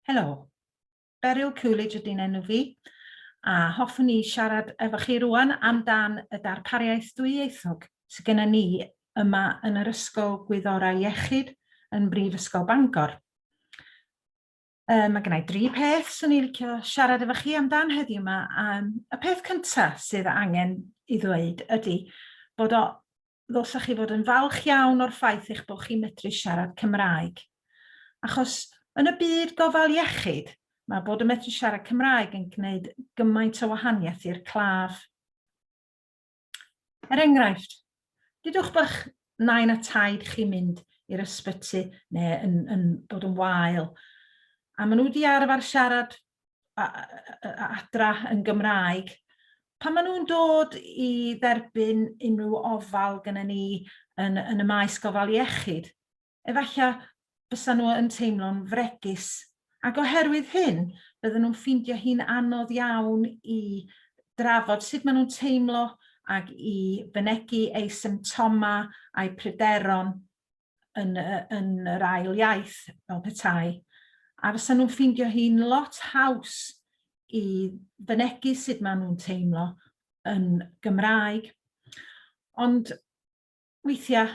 Helo, Beryl Coolidge ydy'n enw fi, a hoffwn i siarad efo chi rwan amdan y darpariaeth dwyieithog sydd genna ni yma yn yr Ysgol Gwyddorau Iechyd yn Brifysgol Bangor. Uh, mae gennau dri peth sy'n ei licio siarad efo chi amdan heddiw yma. Um, y peth cyntaf sydd angen i ddweud ydy bod o ddylsech chi fod yn falch iawn o'r ffaith eich bod chi'n medru siarad Cymraeg. Achos yn y byd gofal iechyd, mae bod yn medru siarad Cymraeg yn gwneud gymaint o wahaniaeth i'r claf. Er enghraifft, dydwch bych nain a taid chi mynd i'r ysbyty neu yn, yn bod yn wael, a maen nhw wedi arfer siarad adra yn Gymraeg. Pan maen nhw'n dod i dderbyn unrhyw ofal gyda ni yn, yn y maes gofal iechyd, efallai bysa nhw yn teimlo'n fregus. Ac oherwydd hyn, bydden nhw'n ffeindio hi'n anodd iawn i drafod sut maen nhw'n teimlo ac i fynegu eu symptomau a'u pryderon yn, yn yr ail iaith fel petai, a fysa nhw'n ffeindio hi'n lot haws i fynegu sut maen nhw'n teimlo yn Gymraeg. Ond weithiau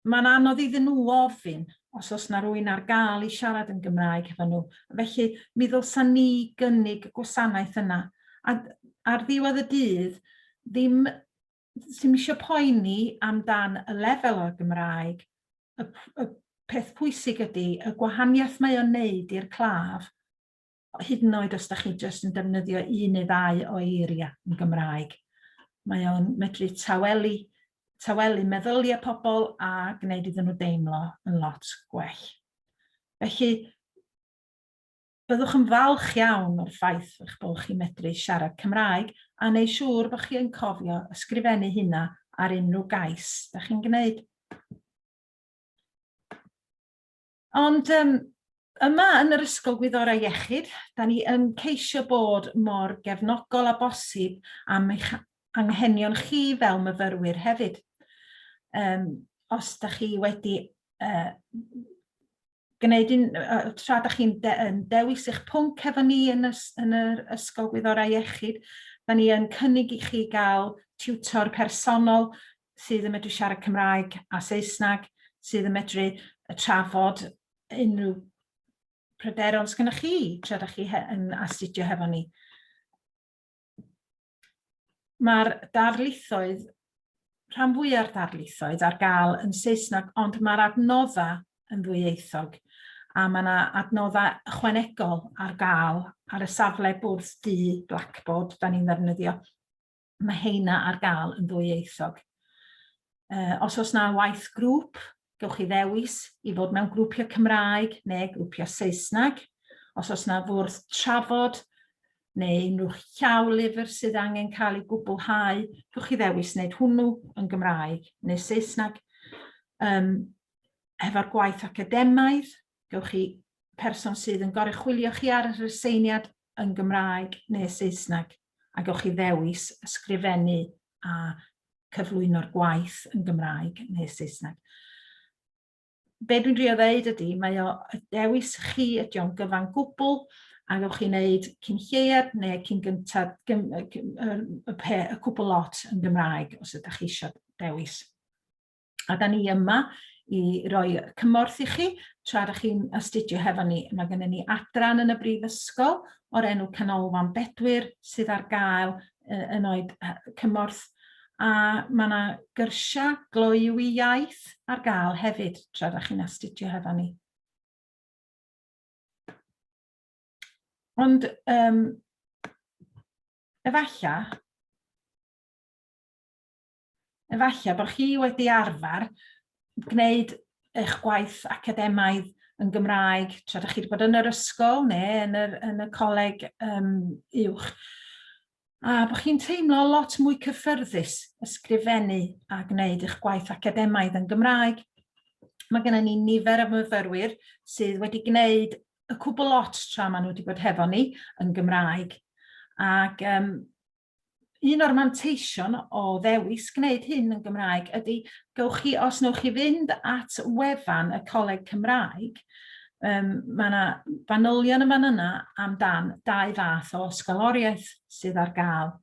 mae'n anodd iddyn nhw ofyn os oes yna rwy'n ar gael i siarad yn Gymraeg efo nhw. Felly mi ddylsa ni gynnig y gwasanaeth yna. A ar ddiwedd y dydd, ddim sy'm eisiau poeni amdan y lefel o'r Gymraeg, y, y peth pwysig ydy y gwahaniaeth mae o'n neud i'r claf, hyd yn oed os da chi jyst yn defnyddio un neu ddau o eiriau yn Gymraeg. Mae o'n medru tawelu, tawelu meddyliau pobl a gwneud iddyn nhw deimlo yn lot gwell. Felly, Byddwch yn falch iawn o'r ffaith eich bod chi'n medru siarad Cymraeg a neu siŵr bod chi yn cofio ysgrifennu hynna ar unrhyw gais da chi'n gwneud. Ond um, yma yn yr Ysgol Gwyddorau Iechyd, da ni yn ceisio bod mor gefnogol a bosib am eich anghenion chi fel myfyrwyr hefyd. Um, os da chi wedi uh, gwneud un, tra da chi'n de, dewis eich pwnc efo ni yn, ys, yn yr Ysgol Gwyddorau Iechyd, da ni yn cynnig i chi gael tiwtor personol sydd yn medru siarad Cymraeg a Saesneg, sydd yn medru trafod unrhyw pryderon sgynnwch chi tra da chi yn astudio hefo ni. mae'r darlithoedd, rhan fwyaf darlithoedd ar gael yn Saesneg, ond mae'r adnoddau yn ddwyieithog a mae yna adnoddau ychwanegol ar gael ar y safle bwrdd du Blackboard da ni'n ddefnyddio. Mae heina ar gael yn ddwyieithog. Uh, os oes na waith grŵp, gewch chi ddewis i fod mewn grwpiau Cymraeg neu grwpiau Saesneg. Os oes yna fwrdd trafod neu unrhyw llaw lyfr sydd angen cael ei gwblhau, gewch chi ddewis wneud hwnnw yn Gymraeg neu Saesneg. Um, hefo'r gwaith academaidd, gewch chi person sydd yn goruchwylio chi ar yr aseiniad yn Gymraeg neu Saesneg, a gewch chi ddewis ysgrifennu a cyflwyno'r gwaith yn Gymraeg neu Saesneg. Be dwi'n drio ddeud ydy, mae o y dewis chi ydy o'n gyfan gwbl, a gawch chi wneud cyn lleiad neu cyn gyntaf gym, y, y, y, y cwbl lot yn Gymraeg os ydych chi eisiau dewis. A da ni yma i roi cymorth i chi tra da chi'n astudio hefo ni. Mae gennym ni adran yn y brifysgol o'r enw Canolfan Bedwyr sydd ar gael yn oed cymorth a mae yna gyrsiau gloyw i iaith ar gael hefyd tra da chi'n astudio hefo ni. Ond um, efallai Efallai bod chi wedi arfer gwneud eich gwaith academaidd yn Gymraeg tra ydych chi wedi bod yn yr ysgol neu yn, yr, yn y coleg um, uwch. A bod chi'n teimlo lot mwy cyffyrddus ysgrifennu a gwneud eich gwaith academaidd yn Gymraeg. Mae gennym ni nifer o myfyrwyr sydd wedi gwneud y cwbl lot tra maen nhw wedi bod hefo ni yn Gymraeg. Ac um, un o'r manteision o ddewis gwneud hyn yn Gymraeg ydy, gewch chi, os newch chi fynd at wefan y Coleg Cymraeg, um, mae yna fanylion yn fan yna amdan dau fath o ysgoloriaeth sydd ar gael.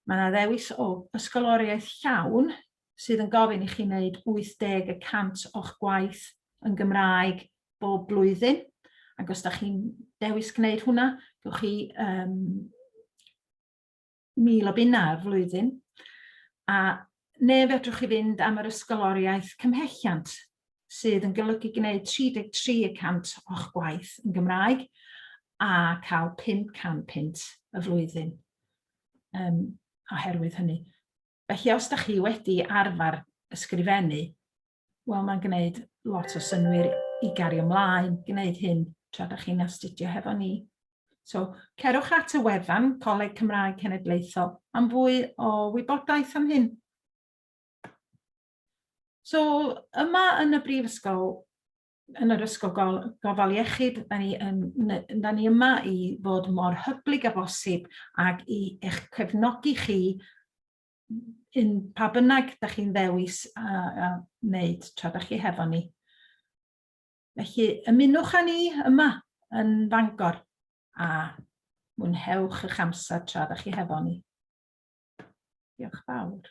Mae yna ddewis o ysgoloriaeth llawn, sydd yn gofyn i chi wneud 80 y cant o'ch gwaith yn Gymraeg bob blwyddyn, ac os da chi'n dewis gwneud hwnna, gywch chi um, mil o bunnau ar flwyddyn, a neu fedrwch chi fynd am yr ysgoloriaeth cymhelliant sydd yn golygu gwneud 33 y cant o'ch gwaith yn Gymraeg a cael 500 pint y flwyddyn um, oherwydd hynny. Felly os da chi wedi arfer ysgrifennu, wel mae'n gwneud lot o synwyr i gario ymlaen, gwneud hyn tra da chi'n astudio hefo ni. So, cerwch at y wefan Coleg Cymraeg Cenedlaethol am fwy o wybodaeth am hyn. So, yma yn y Brifysgol, yn yr Ysgol Gol- Gofal Iechyd, da ni, yn, da ni yma i fod mor hyblyg a bosib ac i eich cefnogi chi yn pa bynnag da chi'n ddewis a, a wneud tra da chi hefo ni. Felly ymunwch â ni yma yn Fangor a mwynhewch eich amser tra da chi hefo ni. Diolch fawr.